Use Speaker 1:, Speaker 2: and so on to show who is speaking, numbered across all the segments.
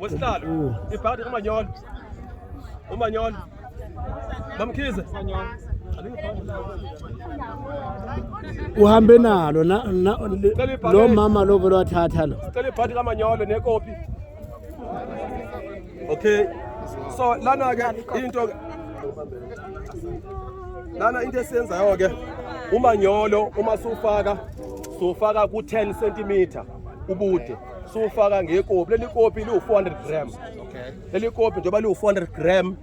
Speaker 1: wesihlalo ibhadi umanyolo umanyolo mamkhize
Speaker 2: uhambe nalo lo mama lo vele wathatha lo sicela ibhadi kamanyolo
Speaker 1: nekopi okay so lana ke into lana into esiyenzayo ke umanyolo uma sufaka sufaka ku 10 cm ubude siwufaka ngekopi leli kopi liwu-400 gram leli kopi njengoba liwu-400 gram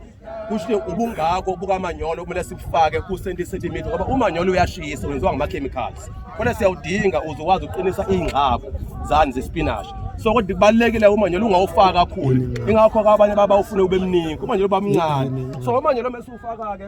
Speaker 1: kusho ubungako bukamanyolo kumele sibufake ku-70 centimeter ngoba umanyolo uyashisa wenziwa ngama-chemicals khona siyawudinga uze ukwazi ukuqinisa iy'ngcako zani zespinashi so kodwa kubalulekile umanyolo ungawufaka kakhulu ingakho-ke abanye babawufune ube mningi umanyolo uba mncane so umanyolo mesiwufaka-ke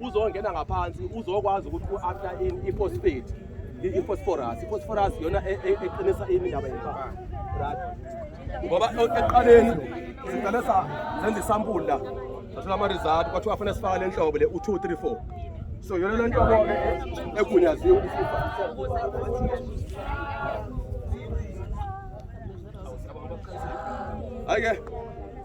Speaker 1: uzongena ngaphansi uzokwazi ukuthi u-after in i-phosphate i-phosphorus i-phosphorus yona e, e, eqinisa ini ndaba yempama right ngoba ekuqaleni siqale senza isampuli la sathola ama-result kwathiwa fanele sifake le nhlobo le u-two three four so yona le ntobo-ke egunyaziwe hhayi-ke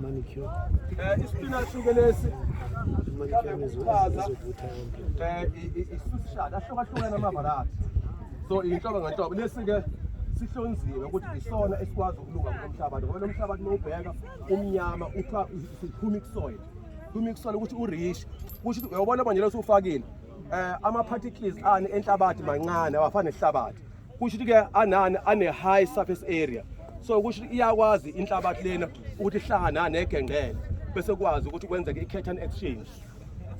Speaker 2: manicure eh
Speaker 1: ispinach ke lesi manicure ngizokwazi ukuthatha eh isushada ahlukahlukene amavarathi so inhlobo ngenhlobo lesi ke sihlonziwe ukuthi isona esikwazi ukulunga kulomhlabathi ngoba lomhlabathi mawubheka umnyama uthiwa humic soil humic soil ukuthi urish kusho ukuthi uyobona manje losufakile eh ama particles ani enhlabathi mancane awafani nehlabathi kusho ukuthi-ke anani ane-high surface area so kusho ukuthi iyakwazi inhlabathi lena ukuthi ihlangana negengqele bese kwazi ukuthi kwenzeke i-curtain exchange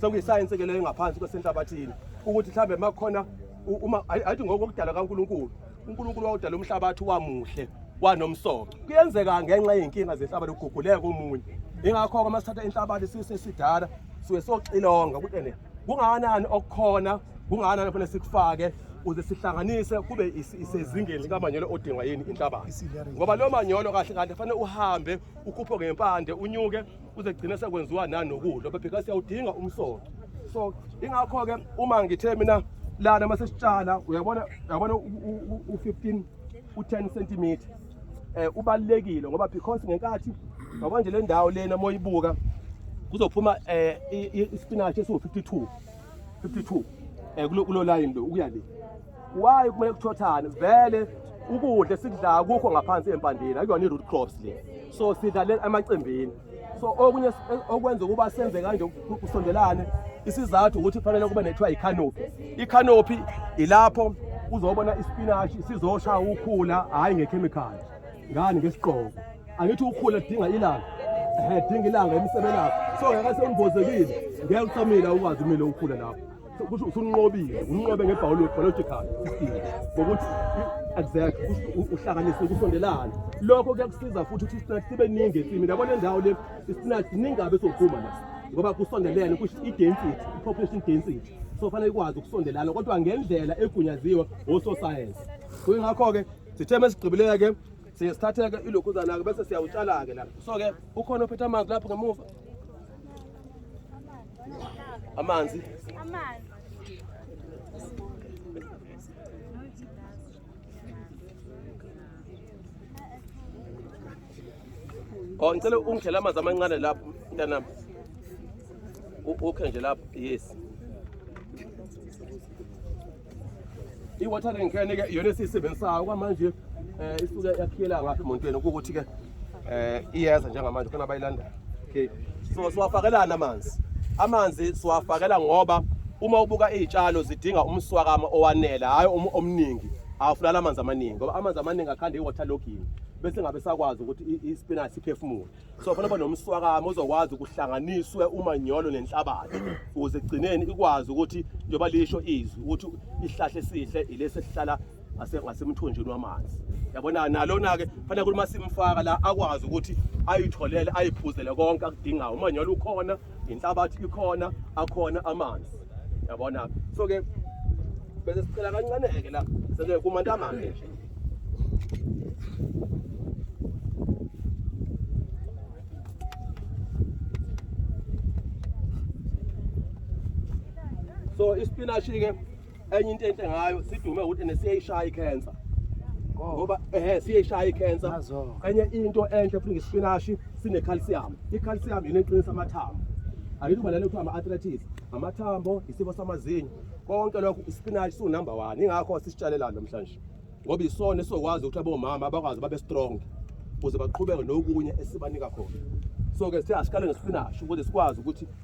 Speaker 1: sekuyisayensi ke leyo ngaphansi kwesenhlabathini ukuthi mhlawumbe uma kukhona uma ayithi ngokokudala kaNkulunkulu uNkulunkulu wawudala umhlabathi wamuhle wanomsoco kuyenzeka ngenxa yey'nkinga zehlabathi kuguguleka omunye ingakho-ke uma sithatha inhlabathi sisesidala suke soxilonga ukuthi ene kungakanani okukhona kungakanani kufanele sikufake uze sihlanganise kube isezingeni likamanyolo odingwa yini inhlabathi ngoba lo manyolo kahle kahle fanele uhambe ukhuphe ngempande unyuke uze gcine sekwenziwa nanokudla bebheka siyawudinga umsoco so ingakho-ke uma ngithe mina lana uma sesitshala uyabona uyabona u-15 u-10 centimeter eh ubalekile ngoba because ngenkathi manje le ndawo lena moyibuka kuzophuma eh ispinach esiwu 52 52 eh kulo line lo ukuya le why kumele kuthothane vele ukudla esikudlayo kukho ngaphansi empandeni akuyona i-root crops le so sidlalela emacembini so okunye okwenza ukuba senze kanje kusondelane isizathu ukuthi kufanele kube nethiwa yikhanopi ikhanopi ilapho uzobona ispinashi sizosha ukhula hhayi ngekhemikhali ngani ngesigqoko angithi ukhula kudinga ilanga ehe dinga ilanga emsebelapho so ngeke sembozekile ngeke usamile ukwazi umile ukhula lapho kusho usunqobile unqobe ngebiological ngokuthi exact uhlanganise ukusondelana lokho kuyakusiza futhi ukuthi ispinach sibe ningi ensimini yabo le ndawo le ispinach ningabe sophuma la ngoba kusondelene kusho i-density i-population density so fanele ikwazi ukusondelana kodwa ngendlela egunyaziwe ososayensi kuyingakho-ke sithe mesigqibileke siye sithatheke ilokhuzana-ke bese siyawutshala-ke la so-ke ukhona ophethe amanzi lapho ngemuva Amanzi. Amanzi. Oh ngicela ungidlela amanzi amancane lapho mntanami. Ukhe nje lapho yes. i-watering can ke iyona esiyisebenzisayo kwamanje um isuke yakhiyela ngapha emontweni kuwukuthi ke um iyeza njengamanje khona bayilandayo okay so siwafakelani amanzi amanzi siwafakela ngoba uma ubuka iy'tshalo zidinga umswakama owanele hhayi omningi awufunani amanzi amaningi ngoba amanzi amaningi akhanda i-water logging bese ngabe sakwazi ukuthi ispinashi iphefumule so fanele banomswakamo ozokwazi ukuhlanganiswe umanyolo nenhlabathi ukuze ekugcineni ikwazi ukuthi njengoba lisho izwi ukuthi isihlahla esihle ilesi esihlala ngasemthonjeni wamanzi yabona nalona-ke fanele ukuthi uma simfaka la akwazi ukuthi ayitholele ayiphuzele konke akudingayo umanyolo ukhona inhlabathi ikhona akhona amanzi yabona so ke bese sicela kancane ke la sele kumantamane nje so ispinashi ke enye into enhle ngayo sidume ukuthi nesiyayishaya ikhensa ngoba ehe siyayishaya ikhensa enye into enhle futhi ngesipinashi sinecalcium icalcium yini eqinisa amathambo angithi ubalele kuthiwa ama-arthritis amathambo isifo samazinyo konke lokho isipinashi siwunumber one ingakho sisitshalelani namhlanje ngoba isona esizokwazi ukuthi abomama bakwazi babe strong ukuze baqhubeke nokunye esibanika khona so-ke sithe asikale ngesipinashi ukuze sikwazi ukuthi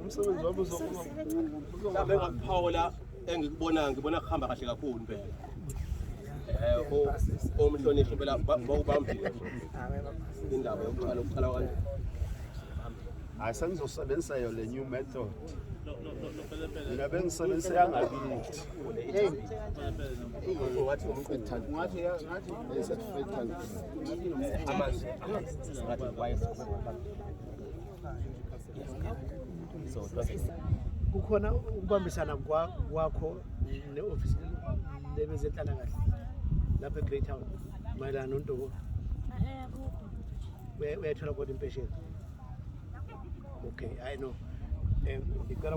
Speaker 3: umsebenzi wabo mhlawumbe
Speaker 1: engakuphawula engikubonayo ngibona kuhamba kahle kakhulu impela um omhlonishwa impela bawubambile indaba yokuqala ukuqala kanje
Speaker 3: hayi sengizosebenzisa yo le new method mina bengisebenzisa yangakithi amanzi
Speaker 1: amanzi
Speaker 2: kukhona ukubambisana kwakho ne-ofisi lebezenhlalakahle lapha e-great town mayelana nontobo uyayithola kodwa impesheni okay hayi no ngicela